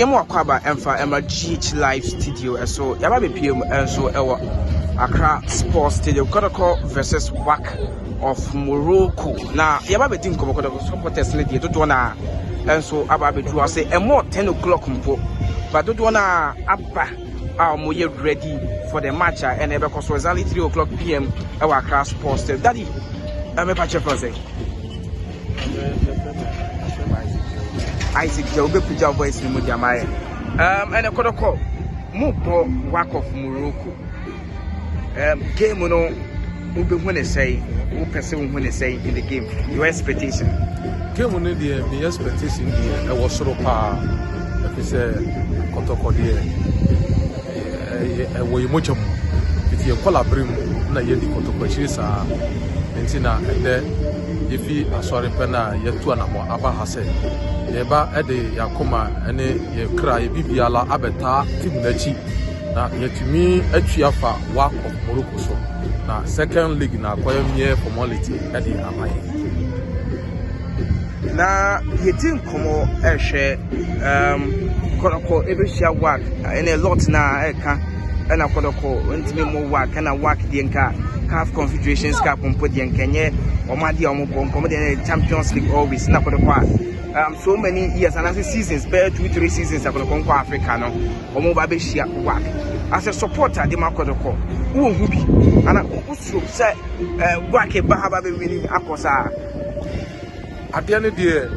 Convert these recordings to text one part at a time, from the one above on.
Yɛma w'akwaaba mfa ma GH Live Studio so yɛaba abɛpue mu nso wɔ Accra Sports Stadium Kɔtɔkɔ vs WAC of Morocco na yɛaba abɛdi nkɔmmɔ Kɔtɔkɔ supporters no deɛ dodoɔ no a nso aba abɛduru ase ɛmɔ 10 o'clock mpo ba dodoɔ no a aba a wɔyɛ ready for the match a ɛna ɛbɛkɔ so exactly 3 o'clock pm ɛwɔ Accra Sports Stadium daddy ɛmɛpa kyerɛ fɔ sɛ Isaac Joe bɛpagya voice no mu de ama yɛ um, ɛne kɔdɔkɔ mobɔ work of Morocco um, game no wobɛhu ne sɛe wopɛ sɛ wohu ne sɛe in the game your expectation game no deɛ me expectation deɛ ɛwɔ soro paa ɛfi sɛ kɔtɔkɔ deɛ ɛwɔ yɛ mogya mu nti yɛkɔ labere mu na yɛdi kɔtɔkɔ akyiri saa nti na ɛdɛ Yefi asɔre pɛ no a, yɛatu anammɔn aba ha sɛ yɛreba de yɛn akoma ne yɛn kra, yɛn biribiara abɛtaa Tim no akyi, na yɛatumi atwi afa Wahkɔ, Morocco so, na Second League na akɔyɛ mmeɛ fɔmɔliti de ama yɛn. Na yɛdi nkɔmmɔ ɛhwɛ. Ɛɛm, kɔdɔkɔ ɛbɛhyia wak ɛne lɔt no a ɛka ɛna kɔdɔkɔ ntumi mmɔ wak ɛna wak deɛ nka caf confederations cup mpo deɛ nka ɛnyɛ wɔn adeɛ a wɔbɔ nka wɔn deɛ ɛyɛ champions league always na kɔdɔkɔ a um, so many years anaasɛ seasons bɛyɛ two three seasons akɔdɔkɔ nkɔ africa no wɔn ba bɛhyia wak asɛ support ade ma kɔdɔkɔ wɔ hu bi ana wosoro sɛ ɛɛ wak ba ha ba bɛwini akɔ saa adeɛ no deɛ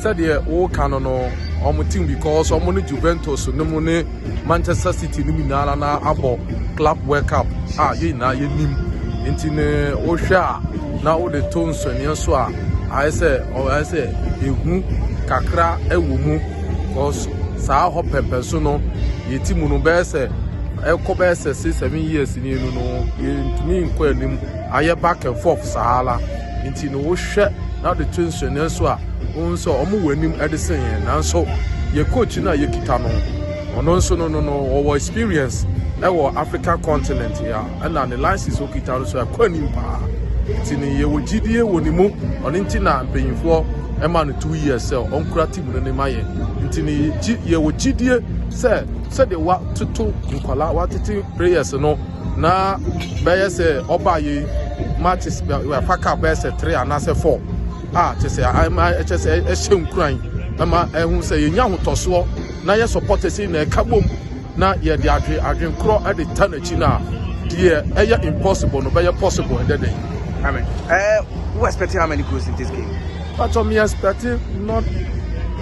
Sɛdeɛ wo ka no no ɔmo team because ɔmo ne Juventus no mu ne Manchester City no mu nyinaa na na abɔ Club World Cup a yɛn nyinaa yɛnim nti ne wohwɛ a na wode to nsɔneɛ so a ayɛ sɛ ayɛ sɛ ehu kakra ɛwɔ mu because saa hɔ pɛmpɛ so no yɛti mu no bɛyɛ sɛ ɛkɔ bɛyɛ sɛ six seven years ni no no yɛntumi nkɔ anim ayɛ back and forth saa la. Nti no wohwɛ na wode to nsɛnneɛ so a, wohu sɛ wɔn wɔ anim de sen yɛn. Nanso yɛ coach no a yɛkita no, ɔno nso no no no wɔwɔ experience wɔ African continent a ɛna ne license okita no so ɛkɔ anim paa. Nti no yɛwɔ gyidie wɔ ne mu, ɔno nti na mpanyinfoɔ ɛma no two years sɛ ɔnkura team no ne ma yɛ. Nti no yɛwɔ gyidie sɛ sɛdeɛ watoto nkwadaa, watete players no na bɛyɛ sɛ ɔbaa yɛ ma te wafa ka bɛyɛ sɛ three anaasɛ four a kyɛ sɛ ɛma ɛkyɛ sɛ ɛhyɛ nkuran ɛma ɛho sɛ yɛnya ahotɔsoɔ na yɛ support ɛsi na ɛka bom na yɛde adwe adwenkorɔ ɛde ta n'akyi no a deɛ ɛyɛ impossible no bɛyɛ possible ɛdɛ dɛn amen ɛɛ wo expecting how many goals in this game but um, expecting not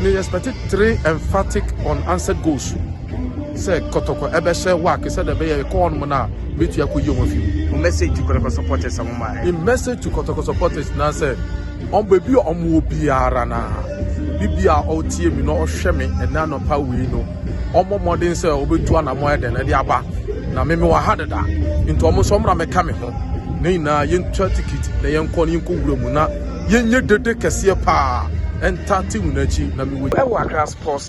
me expecting three emphatic unanswered goals sɛ kɔtɔkɔ ɛbɛhyɛ wak sɛ dɛ bɛyɛ kɔ hɔnom no a bɛtumi akɔyi wɔn afi mu. Wo message to kɔtɔkɔ supporters a wɔn ayɛ. In message to kɔtɔkɔ supporters na sɛ wɔn baabi a wɔn wɔ biara na bibi a ɔtie mi na ɔhwɛ mi ɛnɛ anɔpa wei no wɔn mmɔden sɛ wɔbɛtu anamɔ ayɛ dɛn ɛde aba na mimi wɔ ha dada nti wɔn nso wɔn mɛka me ho na nyinaa yɛntwa tikiti na yɛnkɔ na yɛnkɔ wura mu na yɛnyɛ dede kɛseɛ paa ɛntate wɔn akyi na mewɔ ɛwɔ akra sports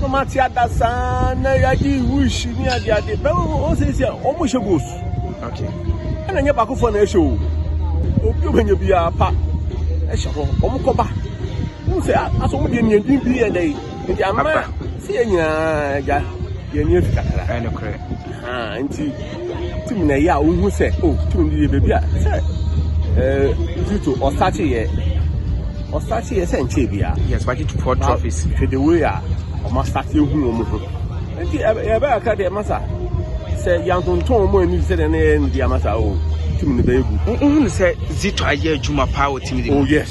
No ma te ada saa na yɛagye wuhyi ne ade ade bɛma wɔn sɛ sɛ wɔn hyɛ goals ɛna nyɛ baakofoɔ na ɛhyɛ o obi ɔbɛnya biara pa ɛhyɛ hɔ wɔn kɔba wɔn sɛ asɔ wɔn deɛ nea din bi yɛ dɛ nti ama sɛ yɛ nyinaa gya yɛn ni efi kakra ɛnokorɛ nti. tumi na ɛyɛ a wohu sɛ o oh, tumi no yɛ baabi a sɛ ɛɛ eh, zito ɔsakye yɛ ɔsakye yɛ sɛ nkyɛn bia. yes wakye to four trophies. hwɛ the way a wɔn asakye ehu wɔn ho nti ɛbɛ aka deɛ masa sɛ yantontɔn wɔn ani sɛ deɛ ne yɛ ne deɛ masa o oh, tumi no bɛyɛ gu. wohu sɛ zito ayɛ adwuma paa wɔ tumi de mu. oh yes.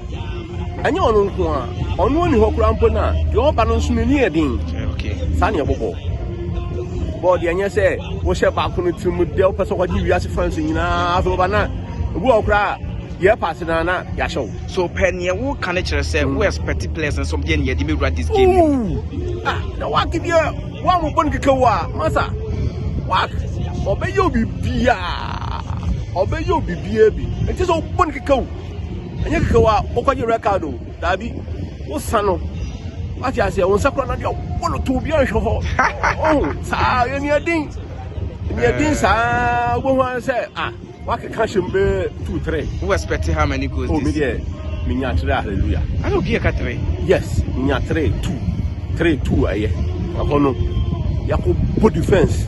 Ɛnyɛ ɔno nko a, ɔno ɔni hɔ koraa mpo no a, deɛ ɔba no nso n'ani yɛ den. Saa na ɛbobɔ. Bɔɔ deɛ ɛnyɛ sɛ wohyɛ baako no tirim dɛ wopɛ sɛ wɔgye wiase fans nyinaa afei wɔba na ebi wɔ koraa yɛ paase na na yɛahyɛ wo. So pɛ neɛ wo ka no kyerɛ sɛ wo expect players no sɔm deɛ ne yɛde mɛwura this game mu. Ah, na wake deɛ wa mo bɔ no keka wo a masa wake ɔbɛyɛ obi biaa ɔbɛyɛ obi biaa bi ɛnti sɛ wobɔ no keka wo. Ɛnyɛ kɛkɛ wa wokɔgye record o. Daabi. Wo sa no. Wate aseɛ, wo nsa kura no deɛ wobɔ no to obi anhwɛ hɔ. Oh, saa yɛ nea din. Nea din saa wobɛhu ara sɛ ah, wakeka hyɛ mu bɛyɛ two three. Wo expect how many goals? Oh, me deɛ menya three hallelujah. Ana obi ɛka three? Yes, menya three two three two ɛyɛ. Ɛhɔ no, yɛakɔ bɔ defense.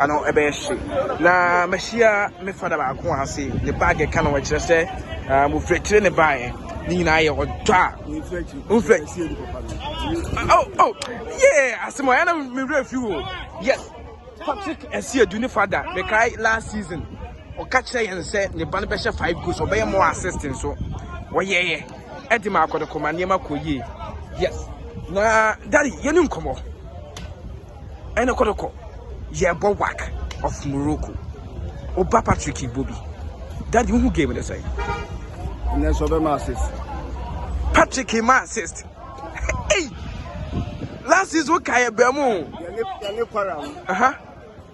Ano ɛbɛyɛ hye. Na mahyia me fada baako a ɔse ne bag ɛka no ɛkyerɛ sɛ um, ofiri akyire ne baeɛ ne nyinaa yɛ ɔdɔ a ofiri akyire oh oh yeah asɛm ɔyɛ na mewerɛ fi o yes Patrick ɛsi edu ne fada mekae last season ɔka kyerɛ yɛn sɛ ne ba no bɛhyɛ five goals ɔbɛyɛ more assist nso wɔyɛyɛ ɛde ma akɔdɔkɔma nneɛma kɔ yie yes na dadi yɛne nkɔmmɔ ɛne kɔtɔkɔ yɛbɔ wak of morocco oba patrick ibobi dadi wohu game ne sɛn ɛnɛ sɛ ɔbɛma assist patrick ma assist ei last season ka yɛ bɛn mu yɛne kwara no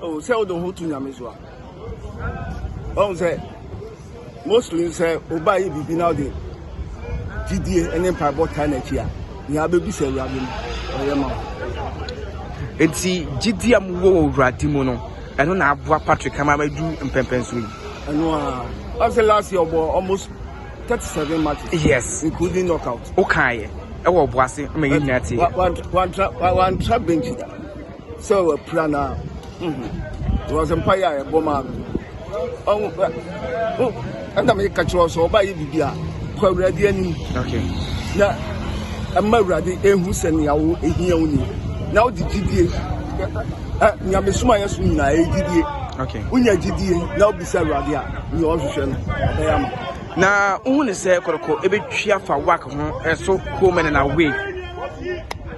Oh, sɛ wode wo ho to nyame so a ɔhu sɛ mostly sɛ woba yɛ biribi na wode gyidie ne mpaebɔ taa n'akyi a nea wobɛbu sɛ awurade no ɔyɛ ma wo nti gyidie a mowɔ wɔ awurade mu no ɛno na aboa patrick ama madu mpɛmpɛn so yi ɛno a ɔsɛ last year ɔbɔ almost 37 matches yes including knockout wokaeɛ ɛwɔ ɔboase ma yɛ nyina tie wantra benchi da sɛ wapira no a because mpaeɛ a yɛbɔ maa no ɔho ɛna meka kyerɛ sɛ ɔba yɛ biribi a kɔ awurade anim na ɛma awurade ɛhu sɛ nea wo ɛhia wo ni na wode gyidie nyamesoma yɛ so nyinaa ɛyɛ gyidie wonya gyidie na wobisa awurade a nea ɔhwehwɛ no ɔbɛyɛ ama na wohu ne sɛ kɔrɔkɔ ɛbɛtwi afa wak ho ɛso kuo mɛne na wei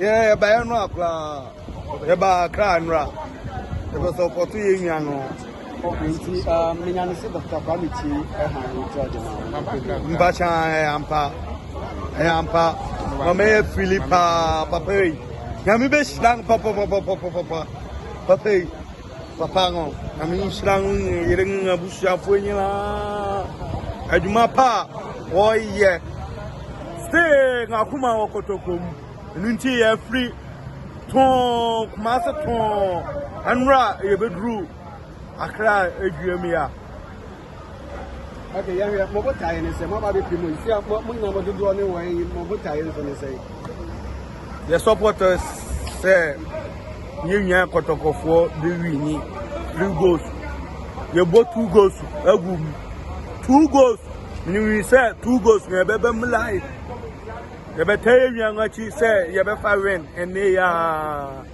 Yɛ yɛ ba yɛ no akora yɛ ba akra anora yɛ bɛ sɔ kɔto yɛ nwa no. Nti menya ne se Dr. Kwame ti ɛha ne ti ɔde ma. Mpacha ɛyɛ ampa ɛyɛ ampa mama yɛ fili paa papa yi nyame bɛ hyira no papa papa papa papa yi. Papa no, Nyame nhyira no ne ne yere ne n'abusuafoɔ nyinaa. Adwuma pa a wɔyɛ. Stay na akoma wɔ kɔtɔkɔ mu. Ɛno nti yɛafiri tɔn Kumase tɔn ɛnora yɛbɛduru Accra adwuam yi a. Ok, yɛhwɛ mo botaeɛ ne sɛ moaba bɛpie mu nti a mo nyina mo dodoɔ ne wɔn yi mo botaeɛ nso ne sɛ yɛ supporters sɛ yɛ nua kɔtɔkɔfoɔ de wini three goals yɛbɔ two goals agu mu two goals ne wi sɛ two goals na yɛbɛbɛ mu live yɛbɛtɛ yɛ nua no akyi sɛ yɛbɛfa win ɛnne yaa